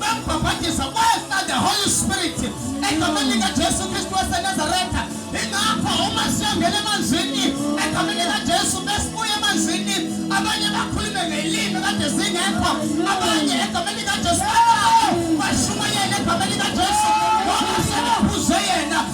Bambhabhatiza kwehla the Holy Spirit egameni likaJesu Kristu waseNazaretha. Ingakho uma siyongena emanzini egameni likaJesu besibuye emanzini abanye bakhulume ngelimi kade zingekho abanye egameni likaJesu bashumayele egameni likaJesu.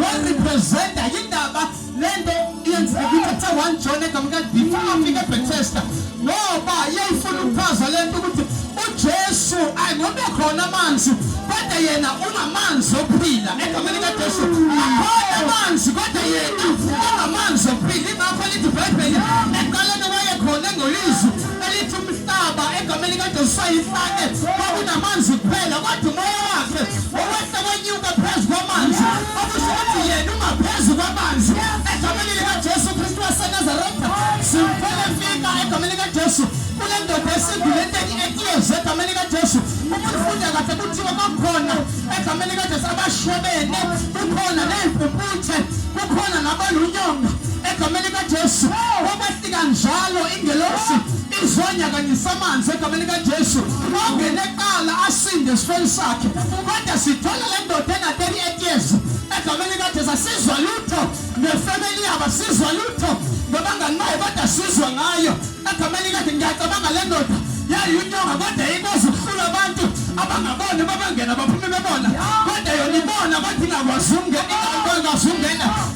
warepresenta yindaba lento yenzeka ithathe one john egamka before afike ebethesda ngoba yayifuna ukuchaza lento ukuthi ujesu ayingobe khona amanzi kodwa yena ungamanzi ophila egameni kajesu akhona amanzi kodwa yena ungamanzi ophila ingakho lithi ibhayibheli eqaleni wayekhona engolizwi elithi umhlaba egameni kaJesu sayifake kwakunamanzi kuphela kodwa umoya wakhe wawehla kwenyuka phezu kwamanzi okusho ukuthi yena ungaphezu kwamanzi egameni likaJesu Kristu waseNazaretha simfele fika egameni kaJesu kule ndoda esindulenteni eklezi egameni kaJesu uma ufunda kahle kuthiwa bakhona egameni kaJesu abashwebene kukhona neyimpumputhe kukhona nabalunyonga egameni kaJesu kanjalo ingelosi izonyakanyisa amanzi egameni kaJesu ongene eqala asinde esifeni sakhe kodwa sithola le ndoda ena-38 years egameni kaJesu asizwa lutho nefemeli yabo asizwa lutho ngabangani bayo kodwa sizwa ngayo egameni kaJesu ngiyacabanga le ndoda yayiyunyonga kodwa ikwazi ukuhlula abantu abangaboni babangena baphume bebona kodwa yona ibona kodwa ingakwazi ukungena ingakwazi ukungena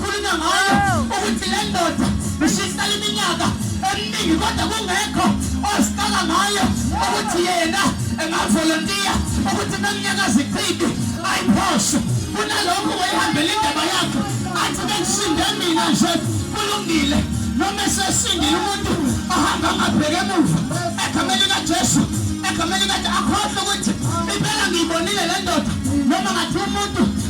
Khulunywa ngayo ukuthi le ndoda ishihlala iminyaka eminingi kodwa kungekho osiqala ngayo ukuthi yena engavolontiya ukuthi naminyaka ziqidi ayiphoshe kunalokho wayihambela indaba yakhe athi bengisinde mina nje kulungile noma esesindile umuntu ahamba angabheke emuva egameni likajesu egameni likajesu akhohlwa ukuthi impela ngiyibonile le ndoda noma ngathi umuntu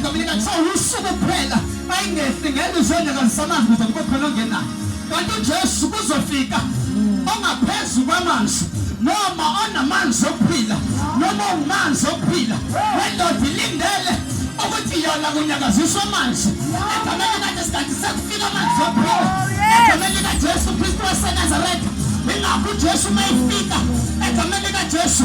Ngabika kuthiwa usuku kuphela ayingehli ngeke uzone kazisamanzi kuze kube khona ongenayo kanti ujesu kuzofika ongaphezu kwamanzi noma onamanzi okuphila noma ungumanzi okuphila wendoda ilindele ukuthi yona kunyakaziswa amanzi egameni kajesikati sekufika amanzi okuphila egameni kajesu kristu wasenazaretha ingakho ujesu uma efika egameni kajesu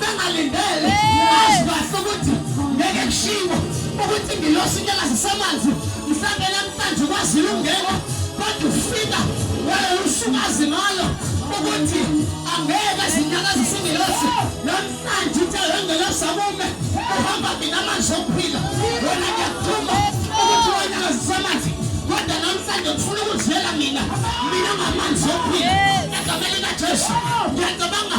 bengalindele azibahle ukuthi ngeke kushiwo ukuthi ngilosi into engazisemanzi mhlawumbe namhlanje ukwazile ungena kodwa ufika wayewusukazi ngalo ukuthi angeke zinyakazi singilosi namhlanje uthe wengelosi akume uhamba mina amanzi okuphila wena ngiyakuthuma ukuthi wanyakazisemanzi kodwa namhlanje ngifuna ukuziyela mina mina ngamanzi okuphila egameni likajesu ngiyacabanga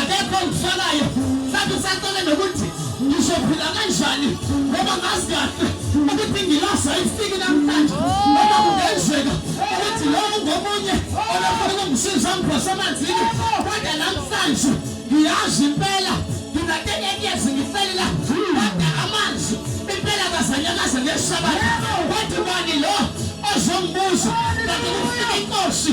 akekho ngifalayo mhlawumbe usacele nokuthi ngizophila kanjani ngoba ngazi kahle ukuthi ngilasa ifiki namhlanje ngoba kungenzeka ukuthi lowo ngomunye olafuna ukungisiza ngiphose emanzini kodwa namhlanje ngiyazi impela nginatekenyezi ngifelela kodwa amanzi impela kazanyakaze ngesabatha wathi bani lo ozongibuza kanti kufika inkosi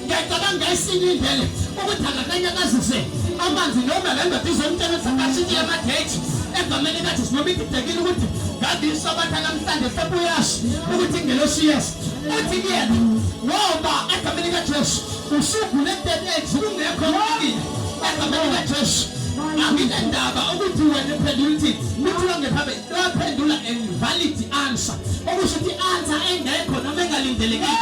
ngiyacabanga esinye indlela ukuthi angakanyakazise amanzi noma le ndoda izomtshela ukuthi akashiye amageji egameni kathi sinoma ididekile ukuthi ngandisho abantu anamhlanje sebuyasho ukuthi ingelosi yesu uthi kuyena ngoba egameni kajesu usugule dedeji kungekho mkile egameni kajesu anginendaba ukuthi wena iphendula ukuthi kuthiwa ngephambi Laphendula a valid answer. Okusho ukuthi answer engekho noma engalindelekile.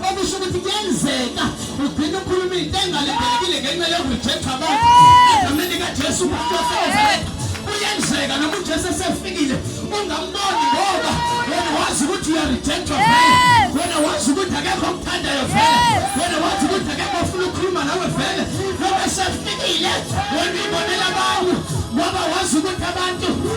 Okusho ukuthi kuyenzeka ugcina ukhuluma into engalindelekile ngenxa yokujexa abantu. Egameni kaJesu kuyenzeka noma uJesu esefikile ungamboni ngoba wena wazi ukuthi uyarejectwa vele. Wena wazi ukuthi akekho okuthandayo vele. Wena wazi ukuthi akekho ofuna ukukhuluma nawe vele. Noma esefikile wena uyibonela abantu ngoba wazi ukuthi abantu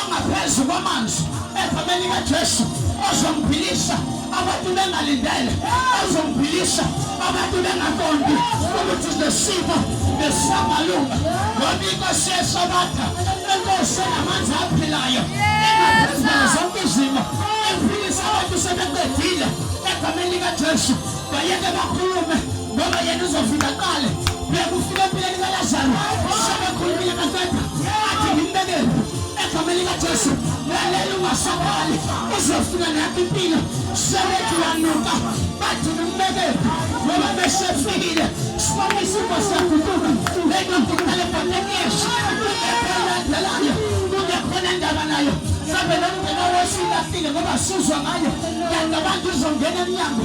ongaphezu kwamanzi egameni kaJesu ozomphilisa abantu bengalindele ozomphilisa abantu bengaqondi ukuthi nesimo nesamalunga ngoba inkosi yesabatha enkosi enamanzi aphilayo engaphezulu zonke izimo ephilisa abantu sebeqedile egameni likaJesu bayeke bakhulume ngoba yena uzofika qale bekufika empilweni kalazaro sebekhulumile kafeta athi ngimbekele egameni likajesu lalela ungasabali uzofika nakho impilo sebethi wanuka bathi ngimbekele ngoba besefikile sibona isimo siyaguquka lendokuqale bhatekesha elandelayo kungekhona ndaba nayo mhlawumbe nomngena wesile afile ngoba sizwa ngayo kanti abantu uzongena emnyango